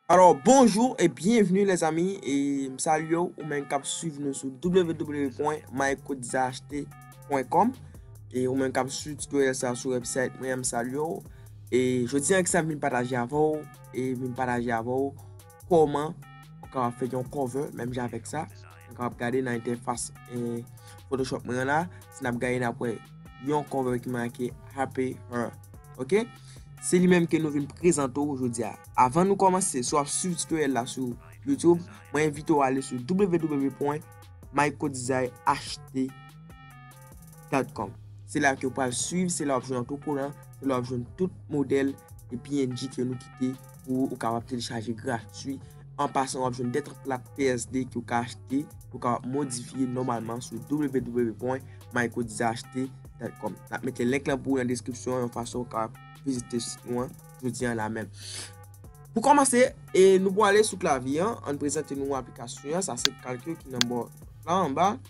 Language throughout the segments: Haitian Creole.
Alors bonjour et bienvenue les amis et m salye ou ou men kap suiv nou sou www.mycodesachetes.com et ou men kap suiv tutoriel sa sou website mwen m salye ou et jodi an ki sa m vin pataje avè ou e vin pataje avè ou kòman ou kapab fè yon cover menm jan avèk sa. Nou kapab gade nan entèfas eh, Photoshop mwen la, si n ap gade n ap wè yon cover ki make Happy Her. Ok, se li menm ke nou vin prezante ou jodi a. Avan nou kòmanse, si w ap swiv tutoriel la sou YouTube, mwen envite ou ale sou www.mycodesign ht. Cloudcom. Se la ke ou pral swiv, se la wap jwenn otokolan, se la wap jwenn tout modèl e png ke nou kite pou ou kapab telechaje gratwi. An pasan wap jwenn 2 trak plat PSD ke ou ka achte, ke ou kapab modifye nòmalman sou www.mycodizachte.com. Nap mete link lan pou ou nan deskripsyon yon fason ou kapab vizite sit nou an jodi an la menm. Pou kòmanse, e nou pwale sou klavye an, ann prezante nou aplikasyon an, sa se kalkyo ki nan bò la anba.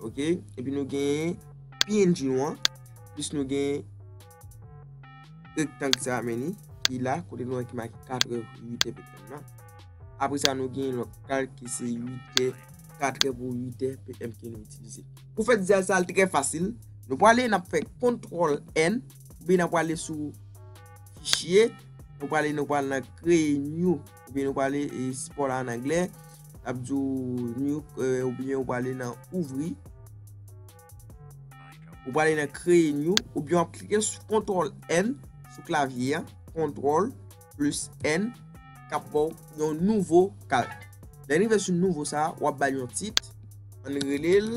Ok, epi nou gen png nou an, plis nou gen rektang sa a meni, ki la, kote nou an ki maki 4 è, 8 è, ptm nan. Apre sa nou gen lòt kalk ki se 8 è, 4 è pou 8 è, ptm ki nou itilize. Pou fè dizay sa a, l trè fasil. Nou prale, n ap fè kontrol N, epi n ap prale sou fichye, nou prale nou pral nan kreye new. ou byen nou pale sport la an anglè ap di ou nuke ou byen ou pale nan ouvri ou pale nan kreye new ou byen ap klike sou kontrol n sou klavye an kontrol plus n kap baw yon nouvo kal lè nou rive sou nouvo sa wap bal yon tit an relel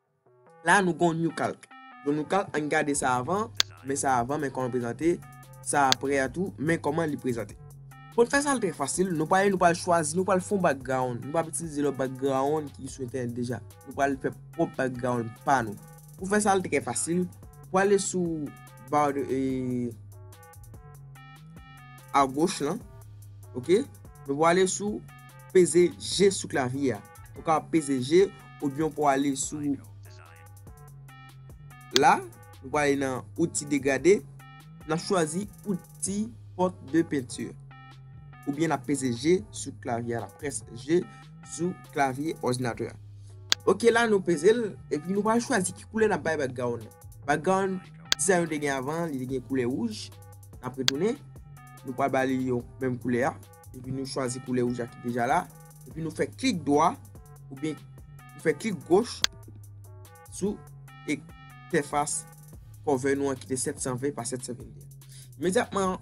La nou gon new calc. Yon new calc ann gade sa avan, men sa avan men kòman l prezante, sa aprè a tou men kòman li prezante. Pou n fè sa l trè fasil, nou pale nou pral chwazi nou pral fon background, nou pap itilize lòt background ki sou entènèt deja, nou pral fè pwòp background pa nou. Pou fè sa l trè fasil, pwale sou ba agoch lan ok, nou pwale sou peze je sou klavye a, ou ka peze je. ou byen ou pou ale sou la ou pou ale nan outi degrade nan chwazi outi pot de pentur ou byen nan peze je sou klavye a nan pres je sou klavye ojnatura ok la nou peze l e pi nou pa chwazi ki koule nan bay bag ga ou bag ga ou disa yon de gen avan li de gen koule ouj nan pre tounen nou pa bali yon menm koule a Epi nou chwazi koulè wouj la ki deja la. Epi nou fè klik dwa. Ou byen nou fè klik goch. Sou e tèfas. Kòve nou an ki te 720 pa 721. Medyatman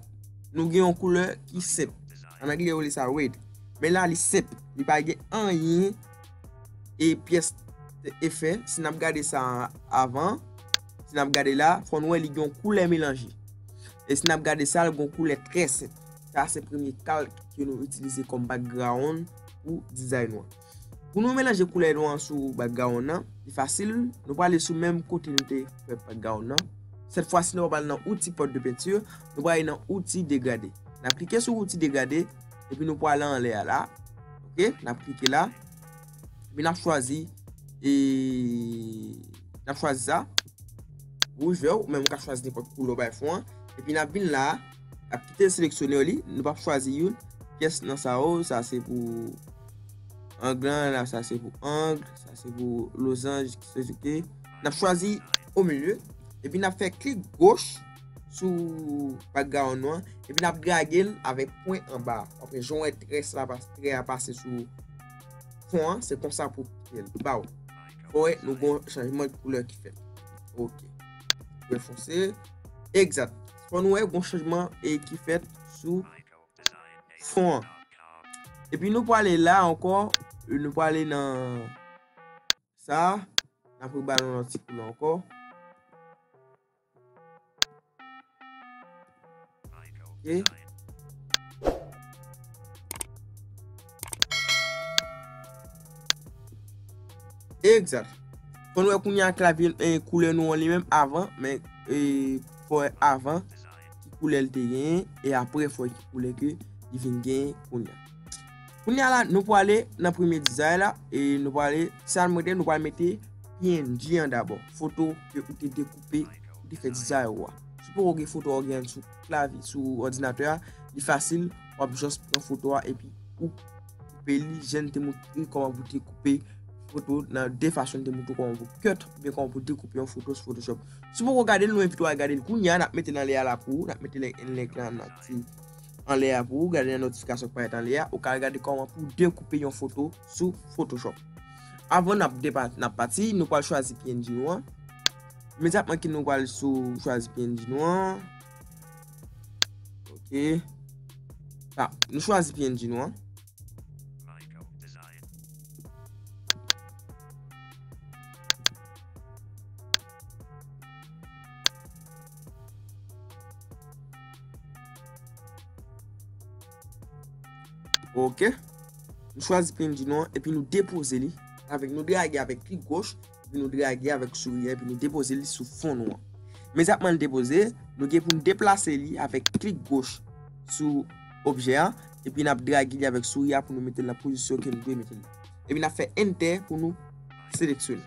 nou gen yon koulè ki sep. An angle yo li sa red. Men la li sep. Li pa gen an yin. E pyes e fè. Si nap gade sa avan. Si nap gade la. Fon wè li gen yon koulè melanji. E si nap gade sa. Li gen yon koulè trè sep. Sa se premye kalk ke nou itilize kòm background pou dizay nou an. Pou nou melanje koulè nou an sou background nan, li fasil, nou prale sou menm kote nou te fè background nan. Sèt fwa si nou pap al nan outi pot de peinture, nou prale nan outi degrade. Nap klike sou outi degrade, epi nou prale anlè a la. Ok, nap klike la. Epi nap chwazi, e, nap chwazi sa. Wouj vè ou, ou menm ou ka chwazi nenpòt koulè ou bay fon an. Epi nap vin la. Ap kite seleksyonè w li, nou pap chwazi youn. Pyès nan sa yo, sa se pou ang lan, la sa se pou ang, sa se pou lozanj ki se souke. N ap chwazi o milye, epi n ap fè klik goch sou background nou an, epi n ap drage l avèk pwen anba. Wap wè jan w wè trè sa pa, trè a pase sou fon an, se konsa pou kite l. Ba w, fò wè nou gon chanjman koulè ki fèt. Ok. Wè fonse, egzat. Fò nou wè gon chanjman e ki fèt sou fon an. E pi nou pwale la ankò, nou pwale nan sa, nan pou balon lòt ti koulè ankò. Ok. Egzat. Kon wè kounye a klavye e koulè nou an li menm avan, men e fò e avan ki koulè l te genyen e apre fò ki koulè ke li vin genyen kounye a. Kounye a la nou pou ale nan premye dizay la e nou pou ale sa nou mete nou pou ale mete png an dabò. Foto ke ou te dekoupe, ou te fè dizay ou a. Sou pou ou gen foto ou gen an sou. lavi sou òdinatè a, li fasil, wap jòs pran foto a epi ou koupe li, jen te moutri kòman pou te koupe foto nan de fasyon te moutri kòman pou kèt, byen kòman pou te koupe yon foto sou Photoshop. Si pou kou gade l nou envite wale gade l kounye a, nap mete nan lè a la pou ou, nap mete link la nan ti an lè a pou ou, gade nan notifikasyon k parèt an lè a, ou ka al gade kòman pou de koupe yon foto sou Photoshop. Avan nap pati, nou pwal chwazi png nou an. Imediatman ki nou wale sou chwazi PNG nou an. Ok. Sa, nou chwazi PNG nou an. Ok. Nou chwazi PNG nou an, epi nou depoze li. Avèk nou drage avèk klik goch. epi nou drage avèk souri epi nou depoze li sou fon nou an. Mezatman li depoze, nou gen pou nou deplase li avèk klik goch sou objè an epi nap drage li avèk souri a pou nou mete l nan pozisyon ke nou vle mete li. Epi nap fè entè pou nou seleksyone,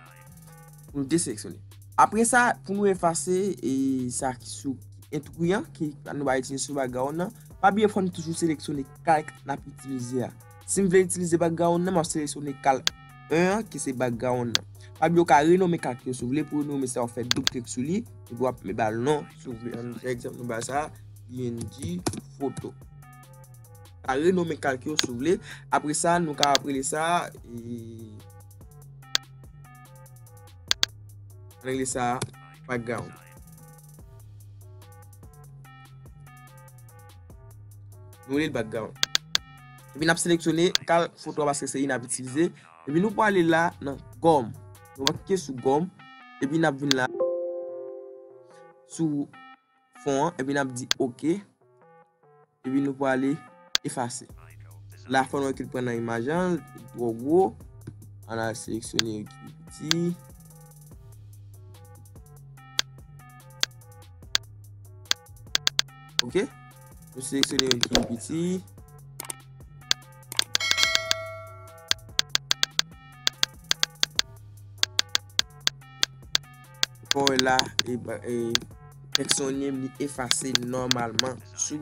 pou nou deseleksyone. Apre sa, pou nou efase e sa ki sou entri an, ki nou pa itilize sou background nan, pa bliye fò nou toujou seleksyone kalk nap itilize a. Si m vle itilize background nan, map seleksyone kalk. 1 an ki se background nan. Pablo ka renome kak yo si w vle pou renome sa w fè doub klik sou li epi w ap me ba l non si w vle. An nou fè egzanp nou ba sa png foto. Ka renome kak yo si w vle. Apre sa nou ka ap rele sa an rele sa background. Nou rele l background. Epi nap seleksyone kal foto a paske se li nap itilize. Epi nou pwale la nan gom. Nou va klike sou gom. Epi nap vin la. Sou fon an. Epi nap di ok. Epi nou pwale efase. La fon nou ekil pran nan imaj an. Li tro gwo. An al seleksyone yon ki piti. Ok. Nou seleksyone youn ki pi piti. Kon wè la, tèks yo li menm li efase nòmalman sou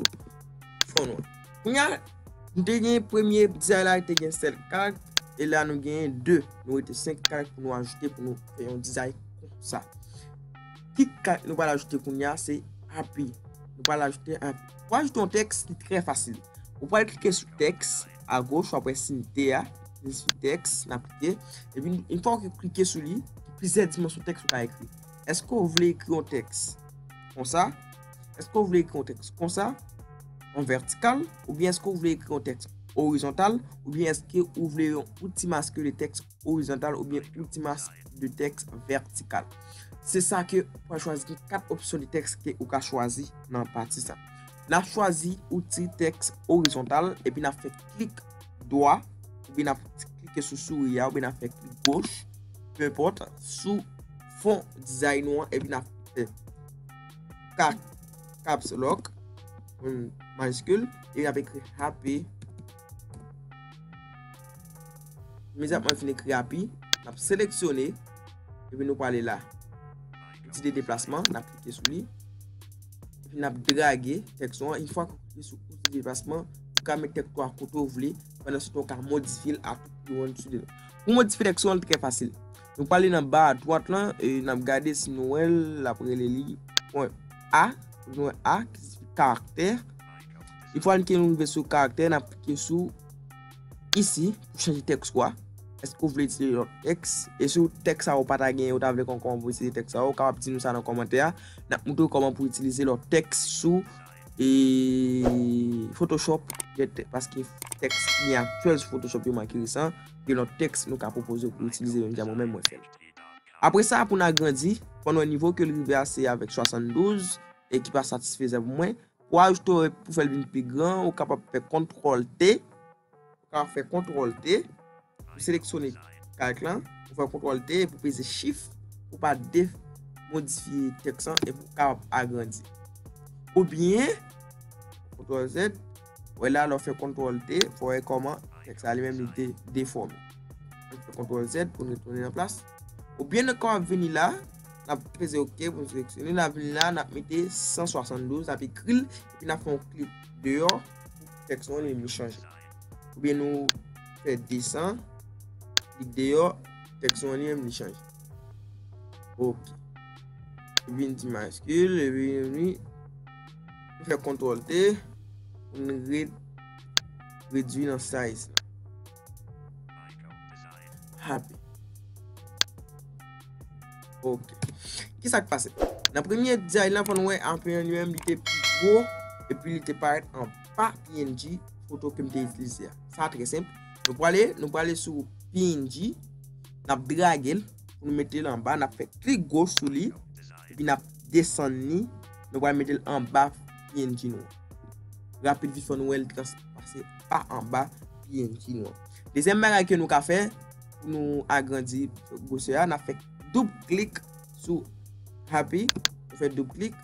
fon an. Kounye a, nou te gen premye dizay la ki te gen 7 karakt. E la nou gen 2. Nou rete 5 karakt pou nou ajoute pou nou fè yon dizay konsa. Ki kat nou pral ajoute kounye a se api. Nou pral ajoute api. Pou ajoute yon tèks ki trè fasil. Ou pral klike sou tèks a goch wap wè sin T a. Klike sou tèks nan pike. E pi yon fwa ou klike sou li, gen plizyè dimansyon tèks ou ka ekri. Eske ou vle ekri yon tèks konsa? Eske ou vle ekri yon tèks konsa? An vètikal? Oubyen eske ou vle ekri yon tèks orizontal? Oubyen eske ou vle yon ti maske de tèks orizontal oubyen yon ti mas de tèks vètikal. Se sa ke ou ka chwazi gen 4 opsyon de tèks ke ou ka chwazi nan pati sa. N ap chwazi outi tèks orizontal epi n ap fè klik dwa oubyen n ap klike sou souri a oubyen n ap fè klik goch pe enpòt sou fon dizay nou an epi n ap fè caps lock, majiskil, epi n ap ekri HP. Imediatman fin ekri api, n ap seleksyone, epi nou pale la. Outil de deplasman, n ap klike sou li, epi n ap drage tèks ou an. Yon fwa ou klike sou outil de deplasman, ou ka met tèks ou an kote ou vle, pandan se tan ou ka modifye l a tout kote ou vle l. Pou modifye tèks ou an, li trè fasil. Nou pale nan ba a dwat lan, e n ap gade si nou wè l, l ap rele li pwen A, pwen A ki siyifi karaktè. Yon fwa n kin rive sou karaktè, n ap klike sou Isi pou chanje tèks ou a. Èske ou vle itilize yon lòt tèks? E si tèks sa ou pa ta genyen, ou ta vle konnen kòman pou itilize tèks sa a, ou kapab di nou sa nan kòmantè a. N ap montre ou kòman pou itilize lòt tèks sou Photoshop. Paske tèks ki gen aktyèl sou Photoshop yo manke resan, gen lòt tèks nou ka pwopoze ou pou itilize menm jan mwen menm mwen fè l. Apre sa, pou n agrandi, fò n wè nivo ke l rive a se avèk 72 e ki pa satisfezan pou mwen. Pou ajoute yon règ pou fè l vin pi gran, ou kapab fè kontrol T, ou kapab fè kontrol T, ou seleksyone kalk lan, ou fè kontrol T epi ou peze chif pou pa de modifye tèks lan epi ou kapab agrandi. Ou byen, kontrol Z, wè la lè w fè kontrol T, fò wè kòman tèks la li menm li te defòme. Fè kontrol Z pou nou retounen nan plas. Ou byen nan kòm ap vini la, nap peze ok pou nou seleksyone, nap vini la nap mete 172, nap ekri l, epi nap fon klik deyò, tèks nou li vin chanje. Ou byen nou fè 200, klik deyò, tèks nou li vin chanje. Ok. Li vin ti maskil, li vin vini, nou fè kontrol T, nou ret redwi nan size la. Happy. Ok. Ki sa k pase? Nan premye diary lan konn wè anpil li menm li te pi gwo epi li te parèt an pa png foto ke m te itilize a. Sa trè senp. Nou pwale, nou pwale sou png, n ap drage l pou nou mete l anba, n ap fè klik goch sou li epi n ap desann li, nou pwale mete l anba png nou an. Rapid vit fè nou wè l trans pase pa anba pnh nou an. Dezyèm bagay ke nou ka fè pou nou agrandi gwosè a, n ap fè doub klik sou Happy, nou fè doub klik,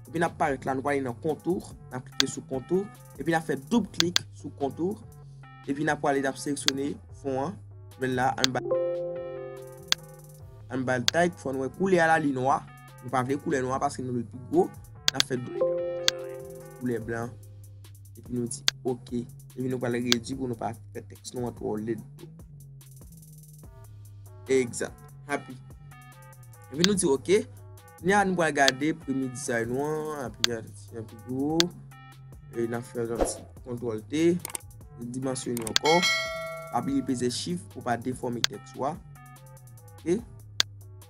epi n ap parèt la, nou prale nan Contour, n ap klike sou Contour, epi n ap fè doub klik sou Contour, epi n ap prale n ap seleksyone fon an, jwenn la, an n ba l type, fò nou wè koulè a la li nwa. Nou pa vle koulè nwa paske nou vle pi gwo. Nan fè dlo koulè blan. E pi nou di ok. E pi nou pral redwi pou nou pa fè teks nou an twò led. Ekzat. Happy. E pi nou di ok. Ni an nou pral gade premye dizay nou an. A pi yon ti yon pi gwo. E nan fè yon ti kontrol te. Yon dimansyon yon kò. A pi yon peze chif pou pa defòme teks ou a. Ok.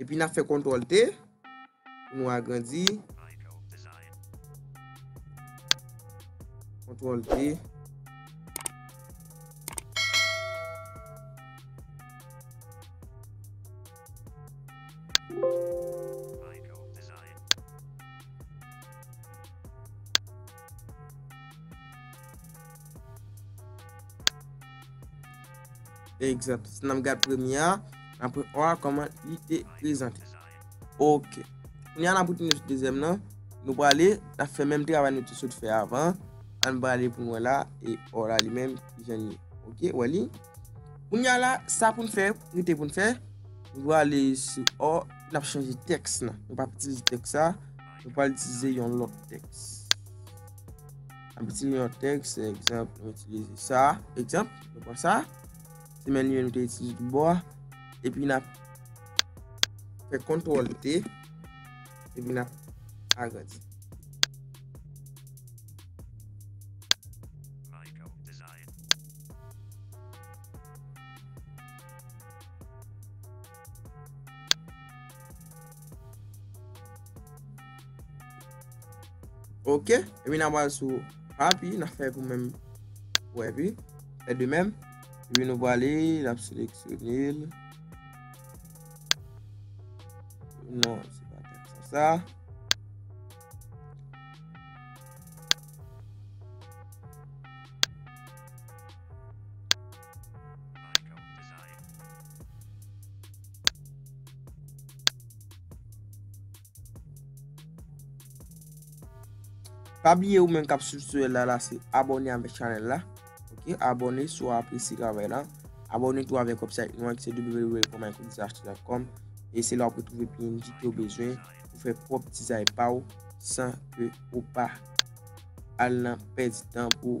Epi na fè kontrol T pou nou agrandi. Kontrol T. Egzanp, si nan gad premye a, apre o a koman li te prezante. Ok. Kounye an apouti nou sou dezyèm nan, nou prale, la fè menm travay nou te sot fè avan, an prale pou nou la, e o la li menm, jen li. Ok, wè li. Kounye an la, sa pou nou fè, nou te pou nou fè, nou prale sou o, nou ap chanje teks nan. Nou pa piti sou teks sa, nou pa piti sou yon lòk teks. An piti yon teks, egzanp, nou piti sou sa, egzanp. Nou pran sa. Semèn 1 nou te itilize tout bò a. Epi n ap fè kontwòl T. Epi n ap agrandi. Ok, epi nan wale sou api, nan fè pou menm pou api, fè de menm, epi nou wale, nan seleksyonil, non, se pa kèk sa sa, Pa bliye ou menm kap swiv sou la la se abone avèk chanèl la ok abone sou apresye travay la abone tou avèk website nou an ki se www.mycodizashtreet.com e se la ou pou trouve PNG ke ou bezwen pou fè pwòp dizay pa ou san ke ou pa al nan pèdi tan pou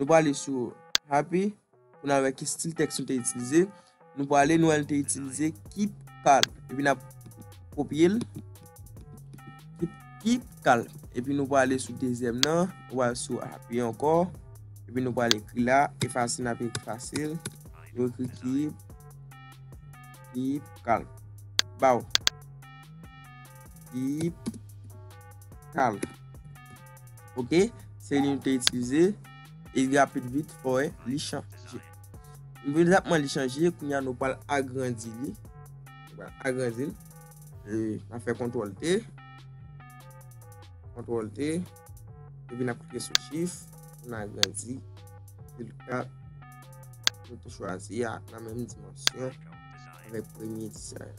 Nou prale sou Happy pou nan wè ki stil tèks nou te itilize. Nou prale nou wè nou te itilize keep kal. Epi nan kopye l. Keep kal. Epi nou prale sou dezyèm nan. Nou prale sou Happy anko. Epi nou prale ekri la. E fasil nan pe ekri fasil. Nou ekri keep. Keep kal. Baw. Keep kal. Ok, se li nou te itilize. E li rapid vit, ou e, li chanje. Mwen rapman li chanje, koun ya nou pal agrandi li. Mwen agrandi li. E, nan fe kontrol te. Kontrol te. E vi nan koukye sou chif. Mwen agrandi. Vil kat. Mwen te chwazi ya. Nan menm dimansyon. Mwen premye disa ya.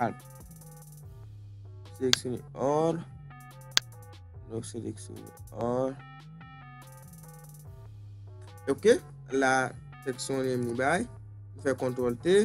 Al. Seleksyone or. Nou seleksyone or. Ok. La seksyon yon mi bay. Nou fè kontrol T.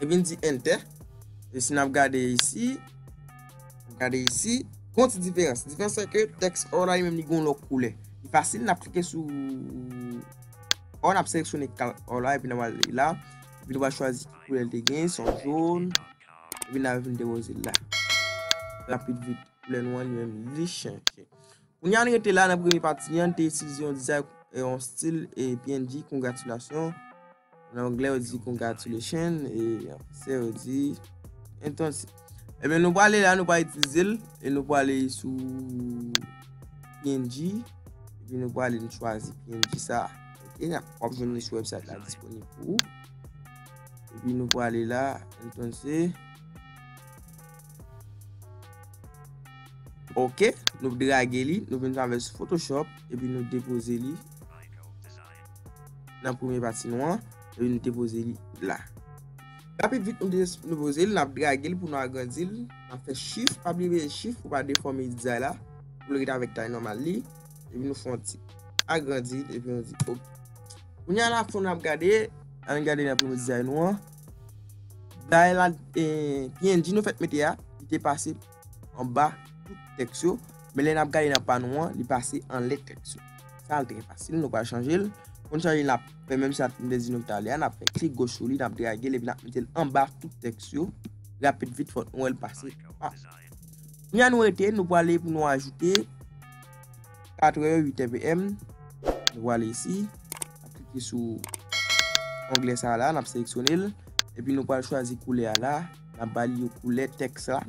Epi n di entè. E si n ap gade isi. Gade isi. Gon ti diferans. Diferans se ke tèks O la li menm li gon lòt koulè. Li fasil n ap klike sou O. N ap seleksyone kal O la. Epi n ap ale la. Epi nou va chwazi ki koulè li te gen. Son joun. Epi n ap vin depoze l la. Rapid vit. Koulè nou an li menm li chanje. Kounya n rete la nan premye pati an. N te itilize yon dizay. Yon stil. E png. Kongratilasyon. Nan anglè yo di congratulation e an fransè yo di entonsi. Ebyen nou pwale la nou pa itilize l e nou pwale sou PNG epi nou pwale nou chwazi PNG sa. Ok, nan wap jwenn li sou website la disponib pou ou. Epi nou pwale la entonsi. Ok, nou drage li, nou vin sa vè sou Photoshop epi nou depoze li. Nan premye pati nou an, epi nou te poze li la. Rapid vit nou poze li, nap drage li pou nou agrandi li, nap fè chif, pa bliye mete chif pou pa defòme dizay la, pou l ret avèk tay nòmal li, epi nou fè yon ti agrandi, epi nou di ok. Kounye a la fon nap gade, an nou gade nan premye dizay nou an, dizay la, PNG nou fèk mete a, li te pase. anba tout tèks yo, men lè nap gade nan pa nou an, li pase anlè tèks yo. Sa al trè fasil, nou pral chanje l. Pou n chanje l, nap fè menm sa m te di nou ki ta lè a, nap fè klik goch sou li, nap drage l epi nap mete l anba tout tèks yo. Rapid vit fòk nou wè l pase anba. Kounye a nou rete, nou prale pou nou ajoute 4 è 8 è PM. Nou prale isi, nap klike sou onglè sa la, nap seleksyone l, epi nou pral chwazi koulè a la. Nap ba li yo koulè tèks la.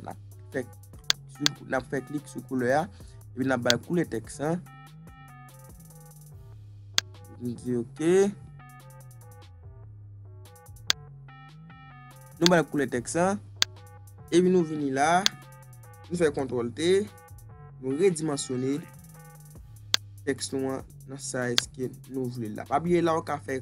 Nap fè klik sou koulè a. Epi nap ba li koulè tèks la. Nou di ok. Nou ba li koulè tèks la. Epi nou vini la. Nou fè kontrol te. Nou redimansyone tèks nou an nan sa eske nou vle la. Pa bliye la ou ka fè.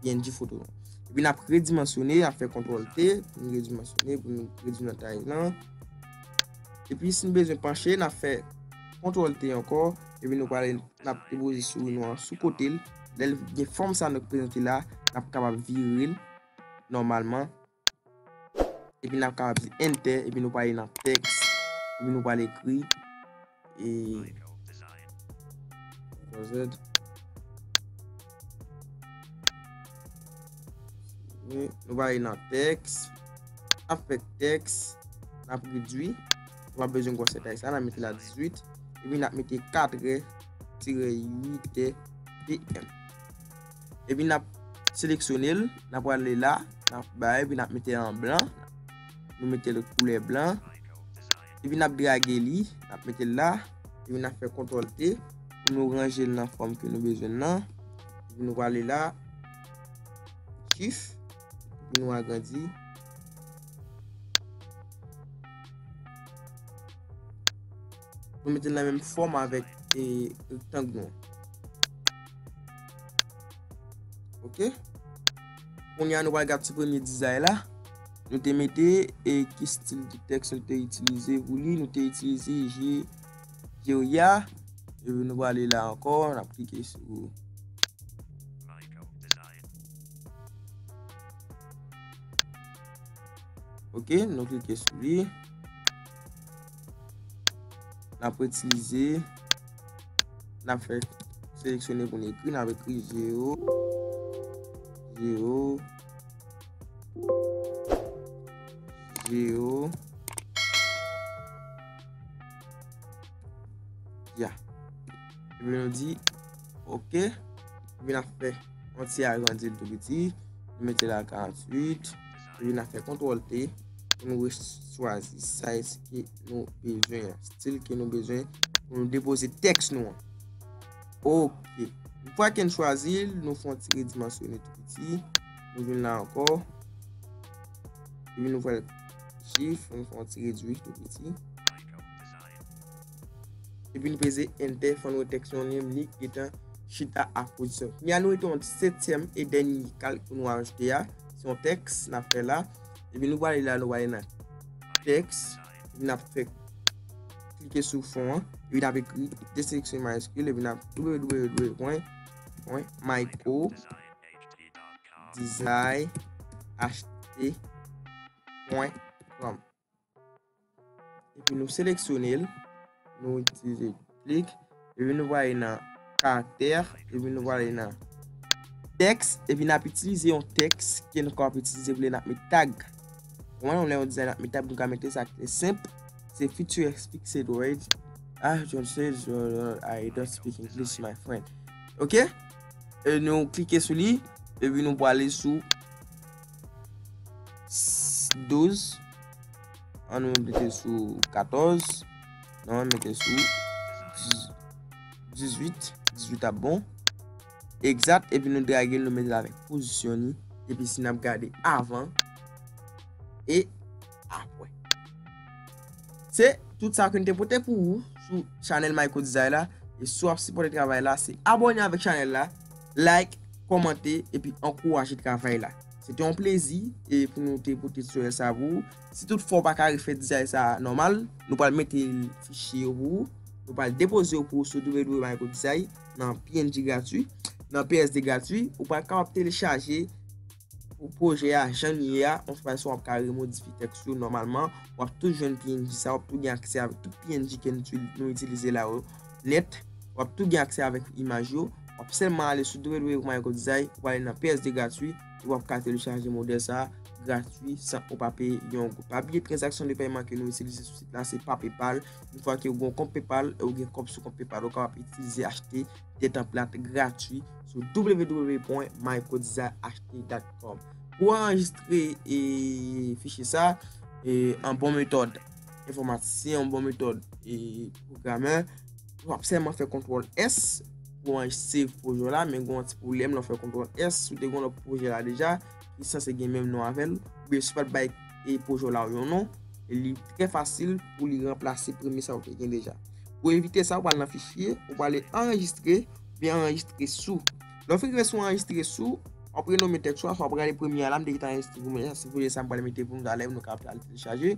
png foto nou. Epi nap redimansyone, nap fè kontrol T, pou nou redimansyone, pou nou redwi nan tay nan. Epi si nou bezwen panche, nap fè kontrol T ankò, epi nou pale nap depoze sou nou an sou kote l, lèl gen fòm sa nou prezante la, nap kapab vire l, nòmalman. Epi nap kapab di enter epi nou pwale nan text epi nou pwale ekri e Ctrl-Z Nou pwale nan text Nap fè text Nap redwi Nou pap bezwen gwòsè text la nap mete la 18 epi nap mete 4 è tire 8 è PM Epi nap seleksyone l. N ap ale la. N ap bay epi n ap mete an blan. Nou mete l koulè blan. Epi n ap drage li. N ap mete l la. Epi n ap fè kontwòl T. Pou nou ranje l nan fòm ke nou bezwen nan. Epi nou ale la. Chif. Epi nou agrandi. Nou mete nan menm fòm avèk e rektang nou. Ok. Kounye a nou pral gade ti premye dizay la. Nou te mete e ki stil di tèks nou te itilize pou li. Nou te itilize je, je ou ya. E nou pral li la ankò. N ap klike sou. Ok. Nou klike sou li. N ap retilize. N ap fè seleksyone pou n ekri. N ap ekri 0. 0. 0. Ya. Epi nou di ok. Epi n ap fè yon ti agrandi l tou piti. Mete la 48. Rive nan fè kontrol T pou nou chwazi size ke nou bezwen, stil ke nou bezwen pou nou depoze teks nou an. Ok. Yon fwa ke nou chwazi, nou fè yon ti redimansyone tou piti. Nou vin la anko. Epi nou fè yon chif, nou fè yon ti redwi tou piti. Depi li peze Enter fò nou text yon lim li gentan chita ak pozisyon. Kounye a nou rete yon setyèm e dènye kalk pou nou ajoute a. Se yon text nap fè la. Epi nou prale la nou prale nan text. Epi nap fè klike sou fon an. Epi nap ekri deseleksyone mayiskil epi nap www.microdesignaht.com Epi nou seleksyone l. Nou itilize klik. Epi nou vwale nan karakter. Epi nou vwale nan teks. Epi nap itilize yon teks. Kien nou kap itilize vle nap met tag. Mwen yon lè yon dizay nap met tag. Mwen ka mete sa kte semp. Se future speak said word. Ah John said word. I don't speak English my friend. Ok. E nou klike sou li. Epi nou vwale sou. 12 an nou mete sou 14 nou an mete sou 18 18 ap bon egzat epi nou drage nou mete la vek pozisyon ni epi si nap gade avan e apwè. Se tout sa ke n te pote pou ou sou chanèl Mayko Dizay la. E si w ap sipòte travay la, se abòne avèk chanèl la, like, kòmante, epi ankouraje travay la. Se te yon plezi e pou nou te pote tutorial sa pou ou. Si tout fwa ou pa ka refè dizay sa nòmal, nou pral mete fichye yo pou ou. Nou pral depoze yo pou ou sou www.mayko Dizay nan png gratuit, nan PSD gratuit. Ou pral kapab telechaje. Pou pwojè a jan l ye a, yon fraz sa w ap ka remodifye tèks yo nòmalman, w ap tou jwenn png sa, w ap tou gen aksè avèk tout png ke nou itilize la yo nèt, w ap tou gen aksè avèk imaj yo, w ap sèlman ale sou www.mygodesign, w ale nan PSD gratwi e w ap ka telechaje modèl sa gratwi san ou pa peye yon goud. Papye tranzaksyon de pèyman ke nou itilize sou sit la se pa PayPal, yon fwa ke ou gen yon kont PayPal e ou gen kòb sou kont PayPal ou kapab itilize achte. de tanplat gratwi sou www.mycodesignaht.com Pou anrejistre e fichye sa, e an bon metòd enfomatisyen, an bon metòd e pwogramè, w ap sèman fè kontwòl S pou anrejistre pwojè w la, men gwen yon ti pwoblèm lè w fè kontwòl S, si w te gwen lòt pwojè la deja, ki sanse gen menm non avè l, oubyen si w pa t bay. e pwoje w la yon non, li trè fasil pou li ranplase premye sa ou te gen deja. Pou evite sa, ou pral nan fichye, ou pral ale anrejistre, ou byen anrejistre sou. Lè w fin rive sou anrejistre sou, w ap renome tèks ou a, oswa w ap gade premye a la, m te gentan anrejistre pou mwen, si w vle sa m pral mete pou nou talè, nou ka pral telechaje.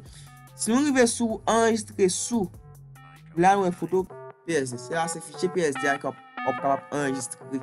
Si nou rive sou anrejistre sou, la nou wè foto PSD. Se la se fichye PSD a ki w ap kapab anrejistre.